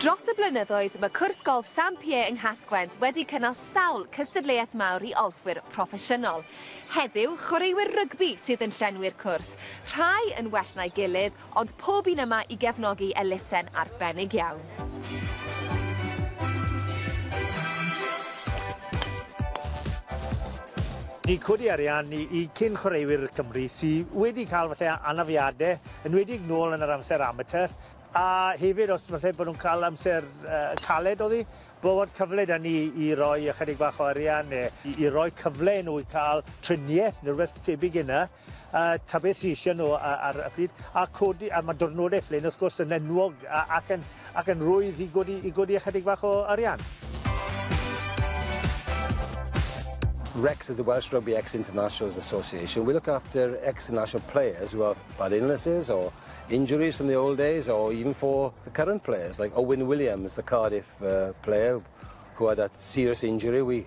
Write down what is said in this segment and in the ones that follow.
Dros y blynyddoedd, mae cwrs golff Sam Pierre yng Nghasgwent wedi cynnal sawl cystadleuaeth mawr i olffwyr proffesiynol. Heddiw, chwaraewyr rygbi sydd yn llenwi'r cwrs, rhai yn well na'i gilydd, ond pob un yma i gefnogi elusen arbennig iawn. Ni'n codi arian i i cyn-chwaraewyr Cymru sy wedi cael falle anafiade, enwedig nôl yn yr amser amatur, a hefyd os falle bod nhw'n cael amser yy caled oddi, bo' fod cyfle 'da ni i roi ychydig bach o arian ne' i i roi cyfle i nhw i ca'l trinieth ne' rwbeth tebyg i 'ny. a ta beth sy isie nw a- ar y pryd a codi a ma' dirnode Flin wrth gwrs yn enwog a- ac yn ac yn rwydd i godi i godi ychydig bach o arian. REX is the Welsh Rugby Ex Internationals Association. We look after ex national players who have bad illnesses or injuries from the old days, or even for the current players, like Owen Williams, the Cardiff uh, player who had that serious injury. We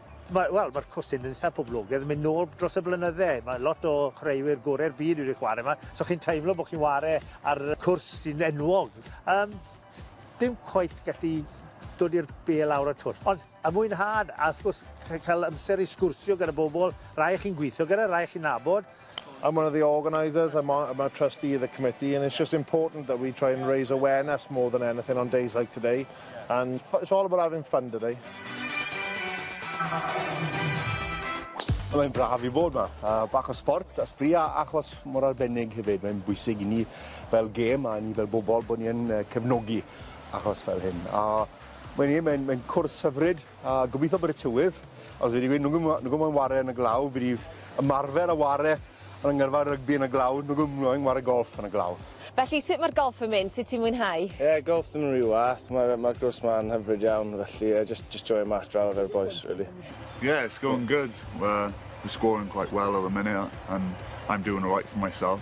Mae, wel, mae'r cwrs yn eitha poblogaidd, mynd nôl dros y blynydde. Mae lot o chwaraewyr gorau'r byd wedi chwarae yma, so chi'n teimlo bod chi'n chwarae ar cwrs sy'n enwog. Um, dim cwaith gallu dod i'r be lawr y twll. Ond y mwynhad, a wrth gwrs cael amser i sgwrsio gyda bobl, rai chi'n gweithio gyda, rai chi'n nabod, I'm one of the organisers, I'm, on, I'm a trustee of the committee, and it's just important that we try and raise awareness more than anything on days like today. And it's all about having fun today. Mae'n braf i fod yma. Uh, bach o sport, a sbri a achos mor arbennig hefyd. Mae'n bwysig i ni fel gêm a ni fel bobl bod ni'n uh, cefnogi achos fel hyn. A mae'n mae, mae cwrs hyfryd, A gobitho bod y tywydd os fi 'di gweud nagwm yy nagwm moyn ware yn y glaw fi 'di ymarfer a ware yn y ngyrfa rygbi yn y glaw nagwm moyn ware golff yn y glaw. Felly sut mae'r golff yn mynd, sut ti'n mwynhau? Ie golff ddim yn rhy wath ma'r yy ma'r cwrs 'ma'n hyfryd iawn felly yy jyst jyst joio mas draw efo'r bois rili. Yeah it's going good we're we're scoring quite well at the minute and I'm doing alright for myself.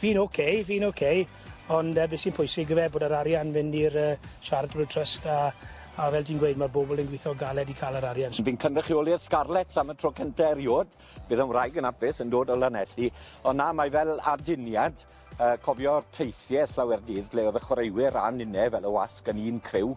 Fi'n ok, fi'n ok, ond yy be' sy'n pwysig yfe bod yr arian fynd i'r yy Charitable Trust a a fel ti'n gweud ma'r bobl yn gwitho galed i ca'l yr arian so... Fi'n cynrychioli'r Scarlets am y tro cynta eriod, bydd 'yn wraig yn apus yn dod o Lanelli, ond na mae fel aduniad yy cofio'r teithie Slawer Dydd lle o'dd y chwaraewyr a'n ninne fel y wasg yn un criw.